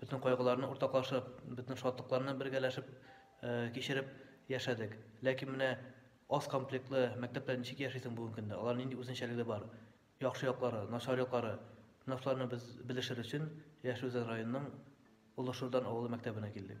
Бөтен кайгыларны уртаклашып, бөтен шатлыкларны бергәләшеп кичереп яшәдек. Ләкин менә аз комплектлы мәктәптә ничек яшисең бүгенге көндә? Алар нинди үзенчәлеге бар? Яхшы яклары, начар яклары, менә шуларны без белешер өчен Яшел Үзән районының Олы Шурдан авылы мәктәбенә килдек.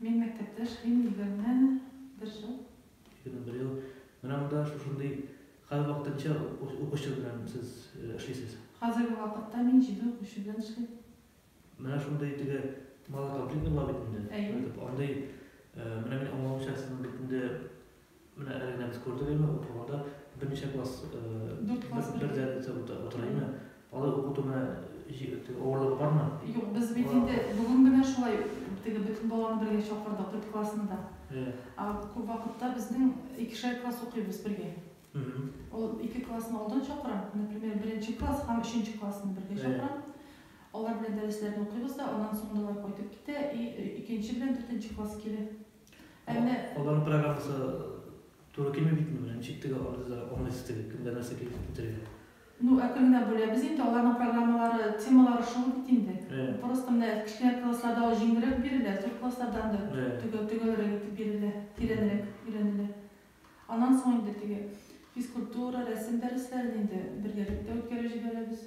Мин мәктәптәш Рим егерме бер ел. Егерме бер ел. Менә монда шушындый хәл вакытынча укучы белән сез эшлисез. Хәзерге вакытта мин җиде укучы белән эшлим. Менә шундый теге малоконфликтный була бит инде. Әйе. Андый, менә мин аңламыйча сезнең бит инде. Менә әле генә без күрдек әйме, укыганда берничә класс бердә утыра әйме. Алар укыту менә авырлыгы бармы? Юк, без бит инде бүген генә шулай теге бөтен баланы бергә чакырдык, дүрт классны да. Ә күп вакытта безнең икешәр класс укыйбыз бергә. Ул ике классны алдан чакырам, например, беренче класс һәм өченче классны бергә чакырам. Алар белән дәресләрне укыйбыз да, аннан соң да алар кайтып китә и икенче белән дүртенче класс килә. Әмма аларның программасы туры килми бит менә, ничек тегә алды да аңлыйсы теге кемгә нәрсә килеп бетергән. Ну, ә кемнәр бүләбез инде, аларның программалары, темалары шул бит инде. Просто менә кечкенә классларда ул җиңелрәк бирелә, зур классларда андый төгәл, төгәлрәк итеп бирелә, тирәнрәк өйрәнелә. Аннан соң инде теге физкультура, рәсем дәресләрен инде бергәлектә үткәреп җибәрәбез.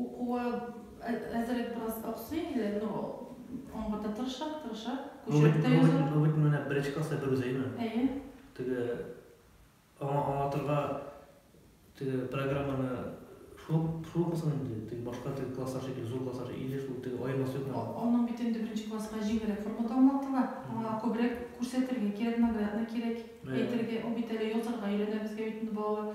Укуы әзерәк бераз аксый инде, но аңгырда тырыша, тырыша, күчереп тә яза. Бу бит менә беренче класста берүзе, әйеме? Әйе. Теге аңа аңлатырга теге программаны шул шул укысын инде, теге башка теге класслар шикелле, зур класслар шикелле, или шул теге аермасы юкмы? Аның бит инде беренче класска җиңелрәк формада аңлатыла. Аңа күбрәк күрсәтергә кирәк, наглядно кирәк әйтергә. Ул бит әле язарга өйрәнә, безгә бит инде балалар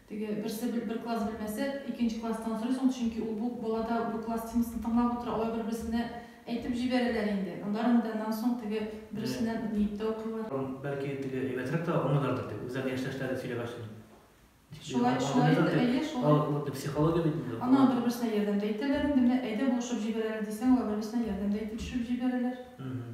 Теге берсе бел бер класс белмәсә, икенче класстан сорый соң, чөнки ул бу балада бу класс темасын тыңлап утыра, алар бер-берсенә әйтеп җибәрәләр инде, аннарын да нан соң теге берсеннән ниеп тә укыйлар. Бәлки теге әйбәтрәк тә аңлыйлардыр дип, үзләрен яшьтәшләре сөйләгәч н дип Шулай, шулай инде, әйе, шулай. Аңлыйлардыр дип, бу психология бит инде. Аннан бер-берсенә ярдәм дә итәләр инде, менә әйдә булышып җибәрәләр дисәң, алар бер-берсенә ярдәм дә итеп төшеп җибәрәләр. Мхм.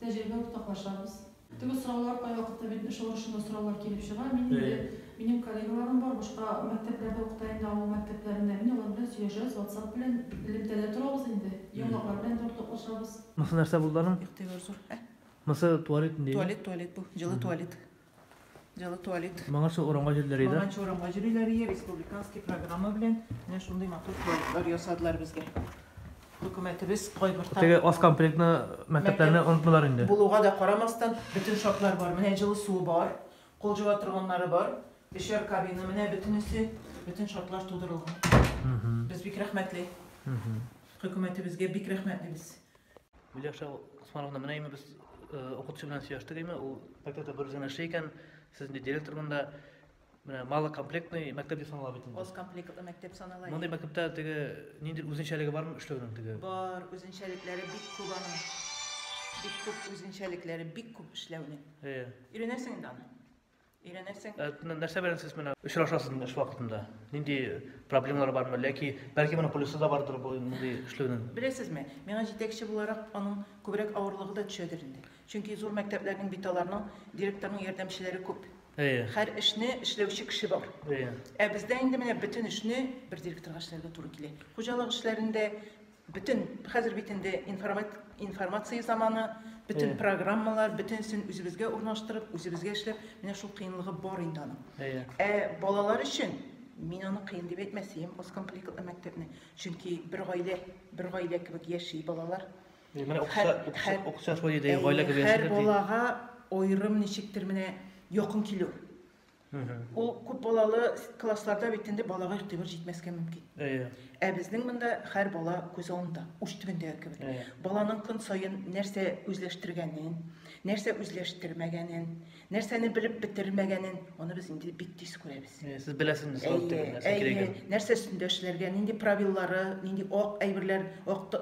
Тәҗрибә уртаклашабыз. Теге сораулар кайвакытта бит эш алышында сораулар килеп чыга. Мин инде, минем коллегаларым бар, башка мәктәпләрдә укыта инде, авыл мәктәпләрендә. Мин алар белән сөйләшәбез, ватсап белән, элемтәдә торабыз инде. Яңалыклар белән дә уртаклашабыз. Монысы нәрсә булды аның? Игътибар зур. Ә? Монысы туалет инде. Туалет, туалет бу. Җылы туалет. Дело туалет. Моңынча урамга җөрләр иде. Моңынча урамга җөрләр иде. Республиканский программа белән менә шундый матур туалетлар ясадылар безгә. Хөкүмәтебез кайбер тар. Теге аз комплектны мәктәпләрне онытмыйлар инде. Булуга да карамастан, бөтен шартлар бар. Менә җылы суы бар, кул җуа торганнары бар, өчәр кабина менә бөтенесе, бөтен шартлар тудырылган. Без бик рәхмәтле. Хөкүмәтебезгә бик рәхмәтле без. Миляша Усмановна, менә инде без укытучы белән сөйләштек инде, ул мәктәптә бер үзенә эшли икән, сез инде директор монда. Менә малокомплектный мәктәп дип санала бит инде. Аз комплектлы мәктәп санала. Мондый мәктәптә теге нинди үзенчәлеге бармы эшләүнең теге? Бар, үзенчәлекләре бик күп аның. Бик күп үзенчәлекләре, бик күп эшләүнең. Әйе. Өйрәнәсең инде аны. Өйрәнерсең. Э, нәрсә белән сез менә очрашасыз эш вакытында? Нинди проблемалар бармы? Ләки бәлки моның плюсы да бардыр бу нинди эшләүнең? Беләсезме, миңа җитәкче буларак аның күбрәк авырлыгы да төшәдер инде. Чөнки зур мәктәпләрнең бит аларның директорның ярдәмчеләре күп. Әйе. Һәр эшне эшләүче кеше бар. Әйе. Ә бездә инде менә бөтен эшне бер директорга эшләргә туры килә. Хуҗалык эшләрендә Бөтен, хәзер бит инде информация заманы, бөтен программалар, бөтенсен үзебезгә урнаштырып, үзебезгә эшләп, менә шул кыенлыгы бар инде аның. Ә балалар өчен мин аны кыен дип әйтмәс идем, аз комплектный мәктәпне. Чөнки бер гаилә, бер гаилә кебек яши балалар. Менә укытучы шулай диде, гаилә кебек яши. Һәр балага аерым ничектер менә якын килү. Ул күп балалы классларда бит инде балага игътибар җитмәскә мөмкин. Әйе. Ә безнең монда һәр бала күз алдында, уч төбендәге кебек. Баланың көн саен нәрсә үзләштергәнен, нәрсә үзләштермәгәнен, нәрсәне белеп бетермәгәнен, аны без инде бик тиз күрәбез. Сез беләсезме сорап тегеләр, нәрсә кирәген? Нәрсә өстендә эшләргә, нинди правиллары, нинди ак әйберләр, ак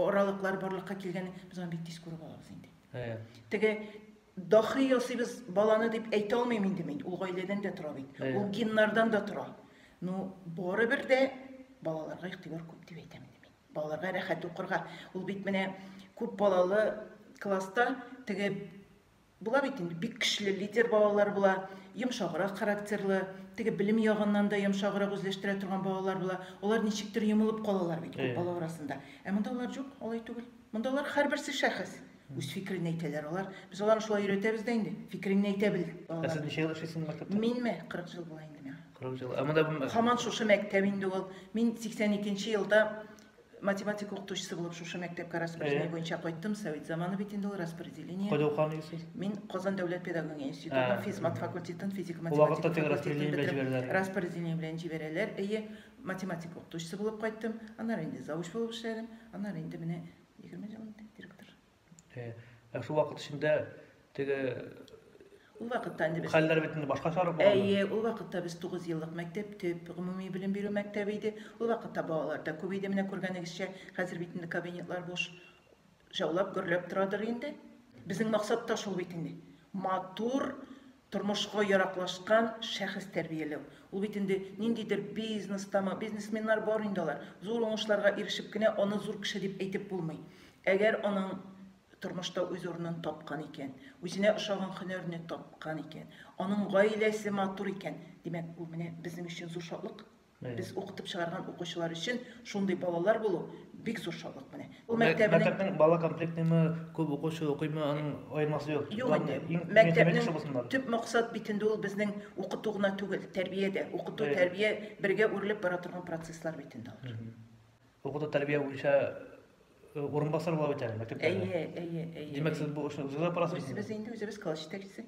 аралыклар барлыкка килгәнен без аны бик тиз күреп алабыз инде. Әйе. Теге Дахи ясыйбыз баланы дип әйтә алмыйм инде мин. Ул гаиләдән дә тора бит. Әйе. Ул геннардан да тора. Ну, барыбер дә балаларга игътибар күп дип әйтәм инде мин. Балаларга рәхәт укырга. Ул бит менә күп балалы класста теге була бит инде бик көчле лидер балалар була, йомшаграк характерлы, теге белем ягыннан да йомшаграк үзләштерә торган балалар була. Алар ничектер йомылып калалар бит күп Әйе. бала арасында. Ә монда алар юк, алай түгел. Мондалар һәрберсе шәхес. Үз фикерен әйтәләр алар. Без аларны шулай өйрәтәбез дә инде. Фикереңне әйтә бел. Ә сез ничә ел эшлисез мәктәптә? Минме? 40 ел була инде миңа. 40 ел. Ә монда бу Хаман шушы мәктәп инде ул. Мин 82 нче елда математика укытучысы булып шушы мәктәпкә распределение буенча кайттым. Совет заманы бит инде ул распределение. Кайда укыган идегез? Мин Казан дәүләт педагогия институтының физмат факультетын, физика математика факультетын бетердем. Распределение белән җибәрәләр. Әйе, Математика укытучысы булып кайттым, аннары инде завуч булып эшләдем, аннары инде менә 20 ел инде директор. Э, ә шул вакыт эчендә теге Ул вакытта инде без хәлләр бит инде башкачарак булган. Әйе, ул вакытта без 9 еллык мәктәп, төп гомуми белем бирү мәктәбе иде. Ул вакытта балалар да күп иде, менә күргәнегезчә, хәзер бит инде кабинетлар буш шаулап гөрләп торадыр инде. Безнең максат та шул бит инде. Матур тормышка яраклашкан шәхес тәрбияләү. Ул бит инде ниндидер бизнестамы, бизнесменнар бар инде алар. Зур уңышларга ирешеп кенә аны зур кеше дип әйтеп булмый. Әгәр аның тормышта үз урынын тапкан икән, үзенә ошаган һөнәрне тапкан икән, аның гаиләсе матур икән, димәк, бу менә безнең өчен зур шатлык. Без укытып чыгарган укучылар өчен шундый балалар булу бик зур шатлык менә. Ул мәктәбенең мәктәпнең бала комплектымы, күп укучы укыймы, аның аермасы юк. Юк инде. Мәктәпнең төп максат бит инде ул безнең укыту гына түгел, тәрбия дә. Укыту, тәрбия бергә үрелеп бара торган процесслар бит инде алар. Укыту тәрбия буенча э, урынбасар була бит әле мәктәптә. Әйе, әйе, әйе. Димәк, сез бу эшне үзегез апарасыз? Үзебез инде үзебез класс җитәкчесе.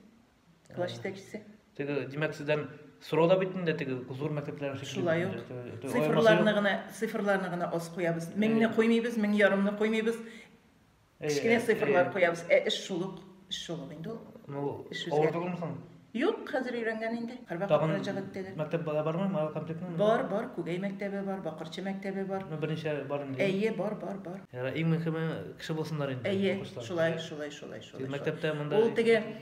класс җитәкчесе теге димәк сездән сорау да бит инде теге зур мәктәпләр шулай ук цифрларны гына цифрларны гына аз куябыз меңне куймыйбыз мең ярымны куймыйбыз кечкенә цифрлар куябыз ә эш шул ук эш шул ук инде ул авыр түгелме соң юк хәзер өйрәнгән инде һәрвакыт мөрәҗәгать итәләр мәктәп бармы мал комплектны бар бар күгәй мәктәбе бар бакырчы мәктәбе бар ну берничә бар инде әйе бар бар бар иң мөһиме кеше булсыннар инде әйе шулай шулай шулай шулай мәктәптә монда ул теге